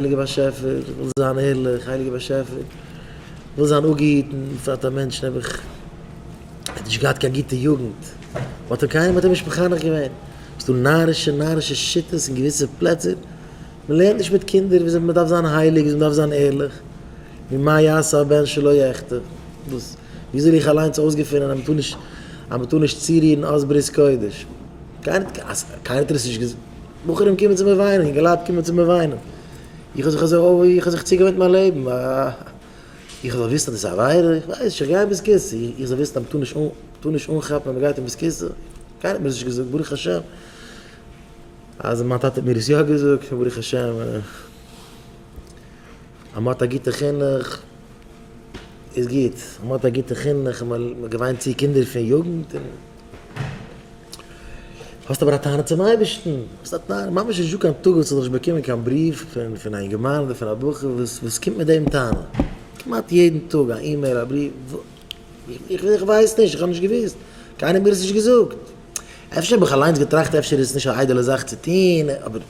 הייליגער באשעפער, איך וויל זיין ערליך, הייליגער באשעפער, איך וויל זיין אפגעהיטן, בפרט א מענטש נעבעך, ער האט נישט געהאט קיין גוטע יוגנט, האט אים קיינער האט אים נישט מחנך געווען, ס'איז דא נארישע נארישע שיטות אין געוויסע פלעצער, מען לערנט נישט מיט קינדער וויאזוי מען דארף זיין הייליג, וויאזוי מען דארף זיין ערליך, נו מה יעשה הבן שלא יחטא, וואס, ווי זאל איך אליינס אויסגעפונען אז מען טאר נישט, אז מען טאר נישט צורירן אויס ברית קודש, קיינער האט עס נישט געזאגט. בחורים קומען צו מיר וויינען, אינגעלייט קומען צו מיר וויינען, איך האב זיך אזוי אוי איך האב זיך צוגעוואונט מיין לעבן, איך זאל וויסן אז דאס איז א עבירה, איך ווייס נישט, איך גיי אין בית כסא, איך זאל וויסן אז מ'טאר נישט מ'טאר נישט אנכאפן ווען מ'גייט אין בית כסא, קיינער האט מיר דאס נישט געזאגט, ברוך השם אז מיין טאטע האט מיר עס יא געזאגט, ברוך השם אז מ'האט א גוטע חינוך. איז גוט, מען האט א גוטע חינוך און מען געוויינט צו קינדער פון יוגנט און האסט אבער א טענה צום אייבערשטן, האסט א טענה, ממש נישטא קיין טאג וואס איך זאל נישט באקומען קיין בריוו פון פון א אינגערמאן אדער פון א בחור וואס וואס קומט מיט דעם טענה, כמעט יעדן טאג א אימעיל א בריוו, איך איך ווייס נישט, איך האב נישט געוואוסט, קיינער האט מיר עס נישט געזאגט. אפשר האב איך אליינס געטראכט אפשר איז עס נישט א איידעלע זאך צו טוהן, אבער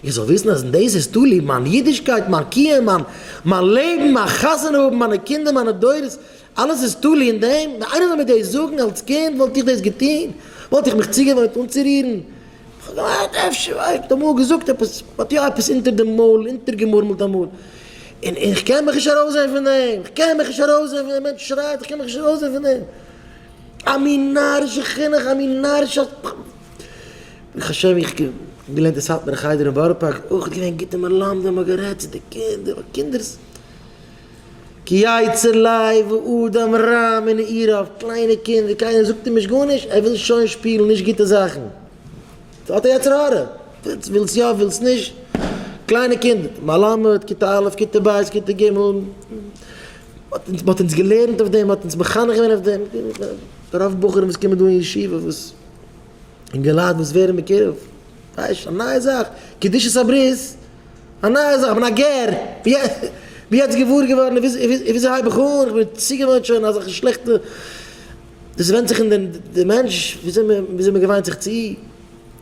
איך זאל וויסן אז אין דאס איז תלוי מיין אידישקייט, מיין קיום, מיין מיין לעבן, מיין חתונה האבן, מיינע קינדער, מיינע דורות, אלעס איז תלוי אין דעם? ווען איינער זאל מיר דאס זאגן אלס קינד וואלט איך דאס געטוהן? וואלט איך מיך צוגעוואוינט אנצורירן? איך האב געמיינט אפשר ווייל איך האב אמאל געזאגט עפעס, מען האט יא עפעס אונטער די מויל אונטערגעמורמלט אמאל, און איך קען מיך נישט ארויסזעהן פון דעם, איך קען מיך נישט ארויסזעהן פון דעם, מענטש שרייט איך קען מיך נישט ארויסזעהן פון דעם. א מין נארישע חינוך, א מין נארישע. ברוך השם איך געלערנט אין סאטמארע חדר אין בארא פארק, אויך געווען גוטע מלמדים האבן גערעדט צו די קינדער ווייל קינדער ז ק יצר לב האדם רע מנעוריו, קליינע קינדער קיינער זאגט אים נישט גארנישט ער וויל שוין שפילן נישט גוטע זאכן, האט א יצר הרע, ווילסט יא ווילסט נישט, קליינע קינדער, מלמד כיתה א' כיתה ב' כיתה ג'. מען האט אונז געלערנט אויף דעם, מען האט אונז מחנך געווען אויף דעם, רוב בחורים וואס קומען דא אין ישיבה וואס אינגעלייט וואס ווערן מקורב, ווייסט א נייע זאך, קדושת הברית, א נייע זאך, כ'בין א גר, בין יעצט געוואר געווארן וויאזוי הייב איך אן, כ'בין צוגעוואוינט שוין אזעלכע שלעכטע, דאס ווענדט זיך אין די מענטש וויאזוי מען געוויינט זיך צו.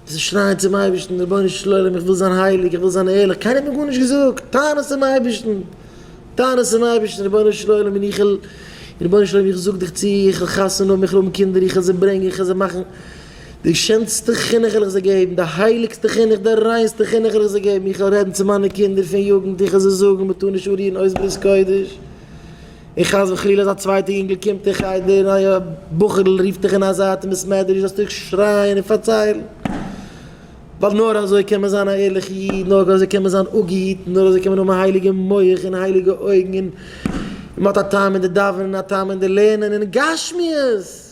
זיי שרייען צום אייבערשטן, רבונו של עולם, איך וויל זיין הייליג, איך וויל זיין ערליך, קיינער האט מיר גארנישט געזאגט, טען עס צום אייבערשטן, טען עס צום אייבערשטן, רבונו של עולם, און איך, רבונו של עולם, איך זאג דיך צו, איך וועל חתונה האבן, איך וועל האבן קינדער, איך וועל זיי ברענגען, איך וועל זיי מאכן, די שענסטע חינוך וועל איך זיי געבן, די הייליגסטע חינוך, די ריינסטע חינוך וועל איך זיי געבן, איך וועל רעדן צו מיינע קינדער פון יוגנט, איך וועל זיי זאגן, מען טאר נישט אנרירן אויס ברית קודש. און חס וחלילה אז א צווייטע יונגל קומט אין חדר און א בחור'ל רופט דיך אין א זייט אין בית מדרש זאלסטו דיך שרייען און פארציילן, ווייל נאר אזוי קען מען זיין א ערליכע איד, נאר אזוי קען מען זיין אפגעהיטן, נאר אזוי קען מען האבן א הייליגע מח און הייליגע אויגן און מען האט א טעם אין די דאווענען און א טעם אין די לערנען און גשמיות.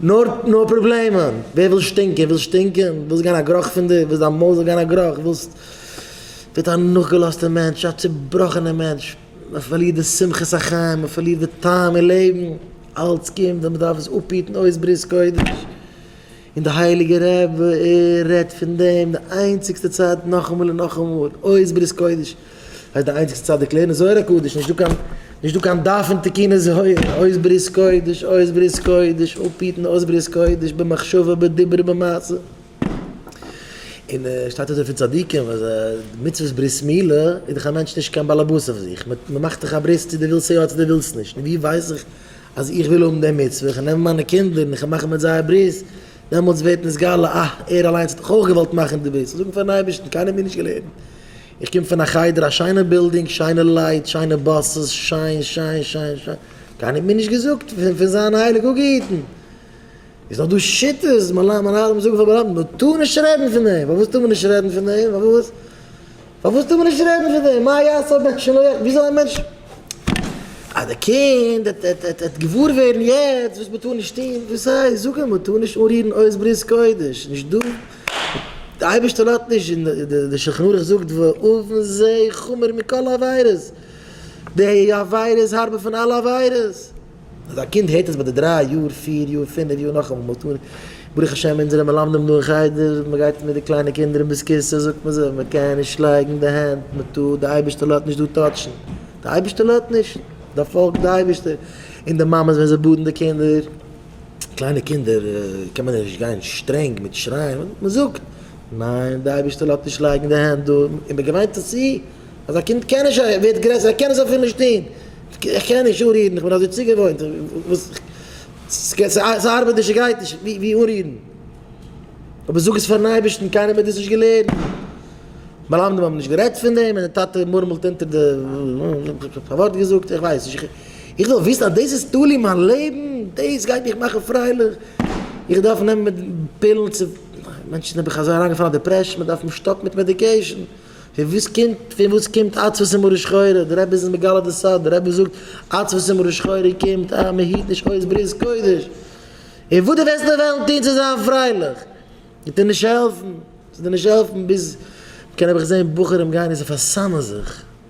נאר נאר פראבלעמען, ווער וויל שטינקען וויל שטינקען, ווילסט גיין א גראך פון דיר, ווילסט דיין מויל זאל גיין א גראך, ווילסט ווערט א נאכגעלאזטער מענטש, א צובראכענער מענטש, מען פארלירט די שמחת החיים, מען פארלירט די טעם אין לעבן, אלץ קומט ווען מען דארף עס אפהיטן אויס ברית קודש, און די הייליגע רבי רעדט פון דעם די איינציגסטע צייט נאכאמאל און נאכאמאל, אויס ברית קודש. הייסט די איינציגסטע צד די קלערן זוהר הקדוש נישט דא קיין נישט דא קיין דף פון תקנות זוהר אויס ברית קודש אויס ברית קודש אפהיטן אויס ברית קודש במחשבה בדיבור במעשה און שטייט אויס דא פון צדיקים וואס די מצוות ברית מילה איז דאך א מענטש נישט קיין באלעבאס אויף זיך מען מאכט דאך א ברית צו די ווילסט יא צו די ווילסט נישט נו ווי ווייס איך אז איך וויל האבן די מצוה איך נעם מיינע קינדער און איך מאך מיט זיי א ברית דעמאלטס ווערט נתגלה אה ער אליינס האט דאך אויך געוואלט מאכן די ברית זאגן פארן אייבערשטן קיינער האט מיר נישט געלערנט איך קום פון א חדר, א שיינע בילדינג, שיינע לייט, שיינע באסעס, שיין, שיין, שיין, שיין, קיינער האט מיר נישט געזאגט פון זיין הייליג אפגעהיטן, איז דא דא שיטות, מנהלים זאגן פאר מלמדים, מען טאר נישט רעדן פון דעם, פארוואס טאר מען נישט רעדן פון דעם, פארוואס, פארוואס טאר מען נישט רעדן פון דעם, מה יעשה הבן שלא יחטא, ווי זאל א מענטש, אז די קינד העט געוואר ווערן יעצט וואס מען טאר נישט טון, וואס הייסט, זאג אים, מען טאר נישט אנרירן עוז ברית קודש, נישט דא. די אייבערשטער לאזט נישט און די שלחן ערוך זאגט ואבן זה חמור מכל עבירות, די עבירה איז הארבער פון אלע עבירות, אז א קינד הערט עס ביי די דריי יאר פיר יאר פינף יאר נאכאמאל מ'האט אן ברוך השם אונזערע מלמדים דא אין חדר מ'גייט מיט די קליינע קינדער אין בית כסא זאגט מען זיי מ'קען נישט לייגן די הענט מ'טאר די אייבערשטער לאזט נישט דא טאטשן די אייבערשטער לאזט נישט דארף פאלגן די אייבערשטער און די מאמעס ווען זיי באדן די קינדער. קליינע קינדער קען מען נישט גיין שטרענג מיט שרייען, מען זאגט, ניין, דער אייבערשטער לאזט נישט לייגן די הענט דא, און מען געוויינט זיך צו אז א קינד קען נישט, ער ווערט גרעסער, ער קען עס אפילו נישט טון, איך קען נישט אנרירן, איך בין אזוי צוגעוואוינט, ס'ארבעט נישט, ס'גייט נישט, ווי אנרירן? אבער זאג עס פארן אייבערשטן, קיינער האט דאס נישט געלערנט, מלמדים האבן נישט גערעדט פון דעם, און די טאטע מורמלט אונטער די, פארווארט געזאגט, איך ווייס נישט. איך וויל וויסן אז דאס איז תלוי מיין לעבן, דאס גייט מיך מאכן פרייליך, איך דארף נעמען פילן צו, מענטשן זענען בכלל אזוי אריינגעפאלן אין דעפרעשן, מען דארף אים שטאפן מיט מעדיקעישן, פון וואס קומט, פון וואס קומט עצבות און מרה שחורה, דער רבי איז אונז מגלה די סוד, דער רבי זאגט, עצבות און מרה שחורה קומט אז מען היט נישט אויס ברית קודש, און וואס דו וועסט נאר וועלן טון צו זיין פרייליך, וועט דיר נישט העלפן, ס'וועט דיר נישט העלפן ביז, מען קען נעבעך זען בחורים גייען און זיי פארסאמען זיך.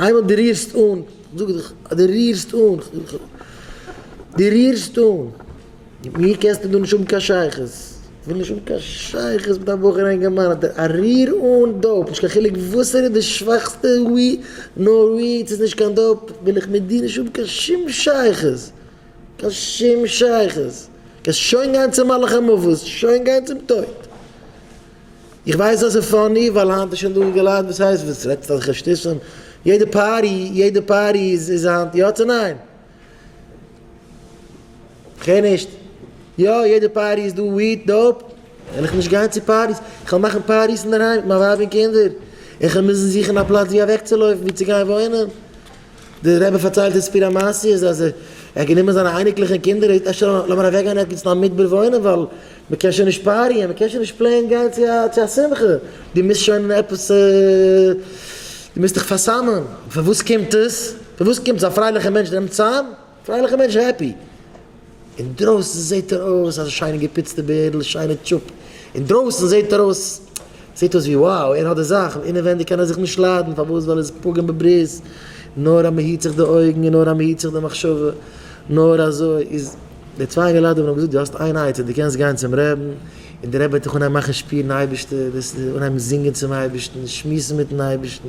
איינמאל דו רירסט אן, זאג איך אז דו רירסט אן, דו רירסט אן, מיט מיר קענסטו דא נישט האבן קיין שייכות, כ'וויל נישט האבן קיין שייכות מיט א בחור אינגערמאן, האט ער א ריר אן דאופ, נישט קיין חילוק וואס ער איז די שוואכסטע ווי נאר ווי, ס'איז נישט קיין דאופ, וויל איך מיט דיר נישט האבן קיין שום שייכות, קיין שום שייכות, קענסט שוין גיין צום מלאך המוות, שוין גיין צום טויט. איך ווייס אז ס'איז פאני ווייל היינט איז שוין דא אינגעלייט וואס הייסט וואס רעדסט אזעלכע שטותים, יעדע פארטי יעדע פארטי איז איז היינט יא צו ניין? כ'הער נישט. יא יעדע פארטי איז דא וויד, דאופ, וועל איך נישט גיין צו פארטיס, איך וועל מאכן פארטיס אינדערהיים מיט מיין ווייב און קינדער, און כ'וועל מוזן זוכן א פלאץ ווי אוועקצולויפן ווי צו גיין וואוינען, דער רבי פארציילט די סיפור המעשי איז אז ער האט גענומען זיינע אייניקלעך און קינדער און געזאגט ער לאמיר אוועק גיין ערגעץ אין א מדבר וואוינען ווייל מען קען שוין נישט פאריען מען קען שוין נישט פלעין גיין צו א שמחה דו מוזט שוין עפעס דו מוזט דיך פארסאמען פון וואס קומט עס פון וואס קומט עס א פרייליכע מענטש נעמט צאם פרייליכע מענטש העפי. אינדרויסן זעהט ער אויס אזא שיינע געפיצטע בערדל שיינע טשופ אינדרויסן זעהט ער אויס זעהט אויס ווי wow ער האט די זאך און אינעווענדיג קען ער זיך נישט ליידן פארוואס ווייל ער איז פוגם בברית נאר אז מען היט זיך די אויגן און נאר אז מען היט זיך די מחשבה נאר אזוי איז די צוויי אינגעלייט האבן אים געזאגט דו האסט איין עצה דו קענסט גיין צום רעבן און די רעבע וועט דיך אנהייבן מאכן שפירן אייבערשטער וועסט אנהייבן זינגען צום אייבערשטן שמועסן מיטן אייבערשטן.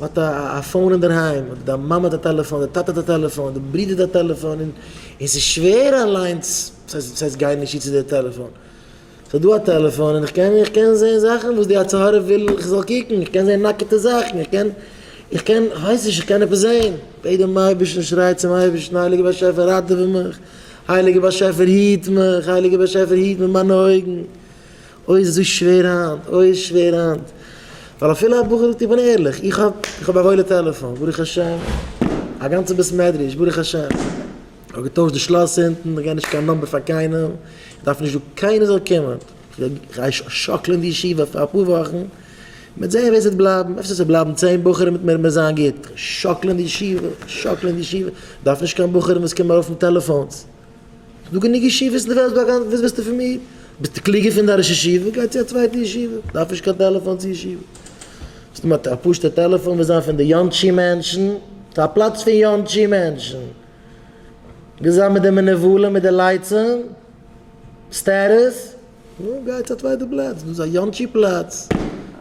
האט א פאון אינדערהיים, אדער די מאמע האט א טעלעפאן, די טאטע האט א טעלעפאן, די ברודער האט א טעלעפאן, און ס'איז שווער אליינס, ס'הייסט ס'הייסט גיי נישט צו די טעלעפאן, ס'איז דא א טעלעפאן און כ'קען איך קען זעהן זאכן וואס די יצר הרע וויל איך זאל קוקן, איך קען זעהן נאקעטע זאכן, איך קען איך קען כ'ווייס נישט איך קען עפעס זעהן, בעט דעם אייבערשטן, שריי צום אייבערשטן, הייליגער באשעפער ראטעווע מיך, הייליגער באשעפער היט מיך, הייליגער באשעפער היט מיט מיינע אויגן. אוי איז דאס שווער היינט, אוי איז שווער היינט. ווייל אפילו א בחור זאגט איך בין ערליך, איך האב איך האב א וואוילע טעלעפאן, ברוך השם, א גאנצע בית מדרש, ברוך השם, איך האב געטוישט די שלאס אונטן, איך גיי נישט קיין נאמבער פאר קיינעם, איך דארף נישט דא קיינער זאל קומען, איך גיי שאקלען די ישיבה פאר אפאר וואכן, מ'וועט זען ווער ס'וועט בלייבן, אפשר ס'וועט בלייבן צען בחורים מיט מיר מיר זיין גוט, איך שאקלען די ישיבה, איך שאקלען די ישיבה, איך דארף נישט קיין בחורים וואס קומען ארויף מיט טעלעפאנס. ס'דא גענוג ישיבות אין די וועלט ביי גאנץ וואס ווילסטו פון מיר? ביסטו קלוגער פון דיין ראש ישיבה? גיי צו א צווייטע ישיבה, דארף נישט קיין טעלעפאן צו ישיבה. סתם א פשוט'ע טעלעפאן וועט זיין פון די יאנטשי מענטשן, ס'איז א פלאץ פון יאנטשי מענטשן. ווילסט זיין מיט די מנבלים מיט די לייצים, סטערעס? נו, גיי צו א צווייטע פלאץ, דאס איז א יאנטשי פלאץ,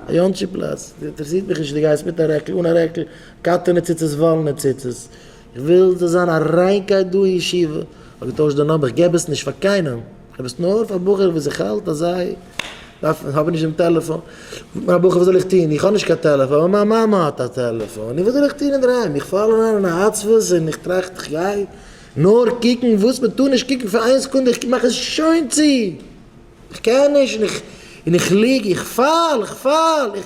א יאנטשי פלאץ. אינטערעסירט מיך נישט צו דו גייסט מיט א רעקל, אן א רעקל, קאטענע ציצית וואלענע ציצית. כ'וויל ס'זאל זיין א ריינקייט דא אין ישיבה, כ'האב געטוישט די נאמבער, כ'געב עס נישט פאר קיינעם, כ'האב עס נאר פאר בחורים וואס איך האלט אז זיי דארפן, האבן נישט דעם טעלעפאן, זאגט מיר א בחור וואס זאל איך טון, איך האב נישט קיין טעלעפאן, אבער מיין מאמע האט א טעלעפאן, און וואס זאל איך טון אינדערהיים, איך פאל אריין אין א עצבות און איך טראכט איך גיי נאר קוקן וואס מען טאר נישט קוקן פאר איין סעקונדע, איך מאך עס שוין צו, איך קען נישט און איך און איך ליג, איך פאל, איך פאל, איך.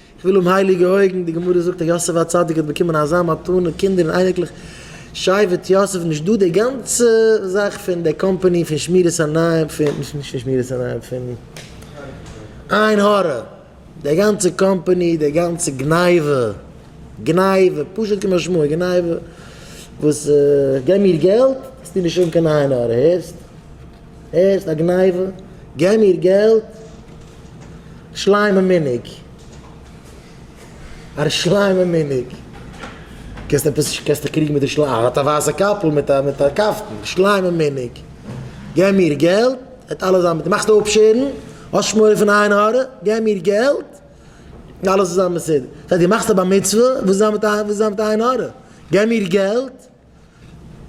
כ'וויל האבן הייליגע אויגן, די גמרא זאגט אז יוסף הצדיק האט באקומען אזא מתנה, קינדער און אייניקלעך, שייוועט יוסף נישט דא די גאנצע זאך פון די קאמפאני פון שמירת עיניים פון נישט פון שמירת עיניים פון עין הרע, די גאנצע קאמפאני די גאנצע גניבה, גניבה פשוט כמשמעו גניבה, וואס גיב מיר געלט וועסטו נישט האבן קיין עין הרע הערסט. הערסט א גניבה? געב מיר געלט! שלמה מיניג! א ר שלמה מיניג! קענסט עפעס קענסט דיך קריגן מיט ר שלמה? ער האט א ווייסע קאפל מיט א מיט א קאפטן! ר שלמה מיניג! געב מיר געלט! וועט אלעס זיין מיט מאכסט אפשערן? האסט שמאלע פון עין הרע? געב מיר געלט! און אלעס וועט זיין בסדר! זאג דו מאכסט א בר מצוה? וואס איז זיין מיט עין וואס איז זיין מיט עין הרע? געב מיר געלט!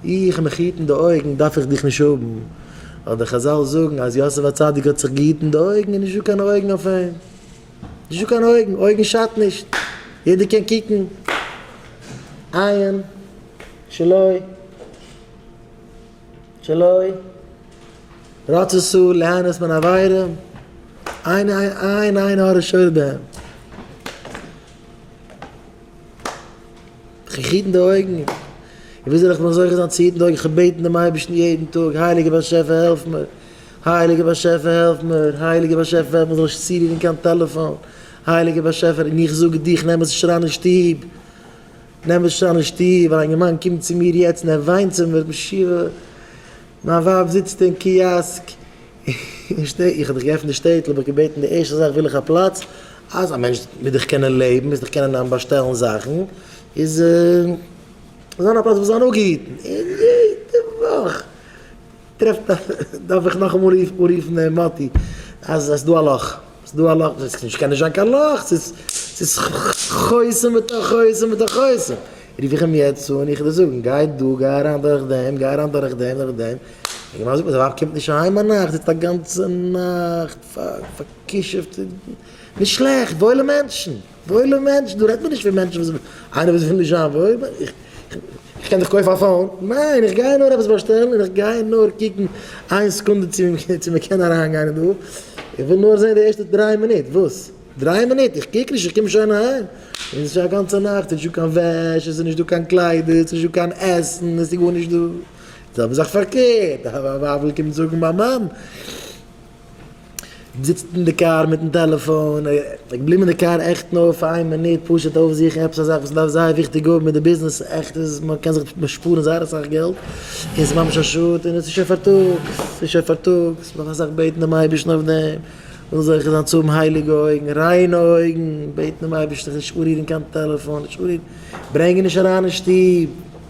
איך מיך היטן די אויגן דארף איך דיך נישט האבן, אבער די חזל זאגן אז יוסף הצדיק האט זיך געהיטן די אויגן איז נישטא קיין אויגן אויף אים, נישטא קיין אויגן, אויגן שאדט נישט, יעדער קען קוקן, עיין שלא שלא רצותו ליהנות מן העבירה, עיין עיין עיין עין הרע שור בהם. איך היטן די אויגן, און ווי זאל איך נאר זוכה זיין צו היטן די אויגן, איך בעט דעם אייבערשטן יעדן טאג, הייליגער באשעפער העלף מיר, הייליגער באשעפער העלף מיר, הייליגער באשעפער ווער איך זאל נישט צורירן קיין טעלעפאן, הייליגער באשעפער, און איך זאג דיר, איך נעם עס נישט אריין אין שטוב, נעם עס נישט אריין אין שטוב, ווייל א יונגערמאן קומט צו מיר יעצט און ער וויינט צו מיר, משוגע, מיין ווייב זיצט אין קיאסק. איך שטיי, איך האב דיך געעפנט די שטעטל, האב איך געבעטן די ערשטע זאך וויל איך א פלאץ אז א מענטש מיט דיך קענען לעבן, מיז דיך קענען אהן באשטעלן זאכן, איז זיין א פלאץ וואס זיין אפגעהיטן, און יעדע וואך טרעפט דארף איך נאכאמאל רופן מאטי אז עס איז דא א לאך. ס'איז דא א לאך, ס'איז נישט קען נישט זיין קיין לאך, ס'איז ס'איז חוסם בתוך חוסם בתוך חוסם, רוף איך אים יעצט אן, איך וועל זאגן גיי דא, גיי אריין דורך דעם, גיי אריין דורך דעם, דורך דעם, איך ווייס נישט, די ווייב קומט נישט אהיים ביי נאכט, זיצט א גאנצע נאכט פארקישעפט, נישט שלעכט, וואוילע מענטשן. וואוילע מענטשן, דא רעדט מען נישט פון מענטשן וואס, איינער וואס וויל נישט זיין וואויל, איך קען דאך קויפן א פאון, ניין איך גיי נאר עפעס באשטעלן און איך גיי נאר קוקן איין סעקונדע צו מען קען אריין גיין אין דא, איך וויל נאר זען די ערשטע דריי מינוט, וואס? דריי מינוט? איך קוק נישט איך קום שוין אהיים, און עס איז שוין א גאנצע נאכט, עס איז נישטא קיין וועש, עס איז נישטא קיין קליידער, עס איז נישטא קיין עסן, עס איז גארנישט דא, די זעלבע זאך פארקערט, א ווייב וויל קומען זאגן מיין מאן. זיצט אין די קאר מיטן טעלעפאן, ער געבליבן אין די קאר עכט נאר פאר איין מינוט פשוט אויפזוכן עפעס א זאך וואס מען דארף זייער וויכטיג האבן מיט די ביזנעס, עכט איז מען קען זיך שפארן זייער אסאך געלט, און ס'איז ממש א שאד, און עס איז שוין פארטאגס, עס איז שוין פארטאגס, נאך אסאך בעטן דעם אייבערשטן אויף דעם, זאל זיך זיין צו האבן הייליגע אויגן, ריינע אויגן, בעטן דעם אייבערשטן זיך נישט אנרירן קיין טעלעפאן, נישט אנרירן, ברענג אים נישט אריין אין שטוב.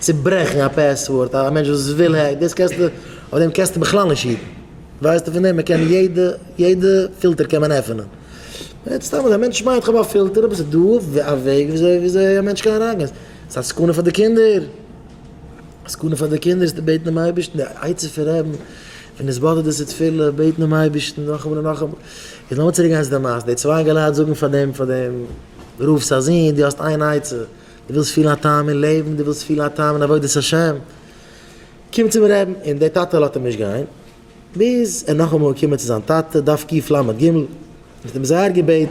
צוברעכן א פעסווארד א מענטש וואס וויל העק דאס קענסטו אויף דעם קענסטו בכלל נישט היטן ווייסטו פון דעם מען קען יעדע יעדע פילטער קען מען עפענען רעדט סתם א מענטש מיינט כ'האב א פילטער אבער ס'איז דא א וועג וויאזוי וויאזוי א מענטש קען אריינגיין ס'איז א סכנה פאר די קינדער א סכנה פאר די קינדער זיי בעטן דעם אייבערשטן די עצה פון רעדן ווען עס באדערט דאס איז תפילה בעטן דעם אייבערשטן נאכאמאל און נאכאמאל איז לאמיר צוריקגיין צו די מעשה די צוויי אינגעלייט זאגן פאר דעם פאר דעם רב'ס א זון דו האסט איין עצה דו ווילסט פילן א טעם אין לעבן, דו ווילסט פילן א טעם אין עבודת השם, קום צום רעבן, און דער טאטע לאזט אים נישט גיין, ביז ער נאכאמאל איז געקומען צו זיין טאטע, דף קיף לג, און האט אים זייער געבעטן,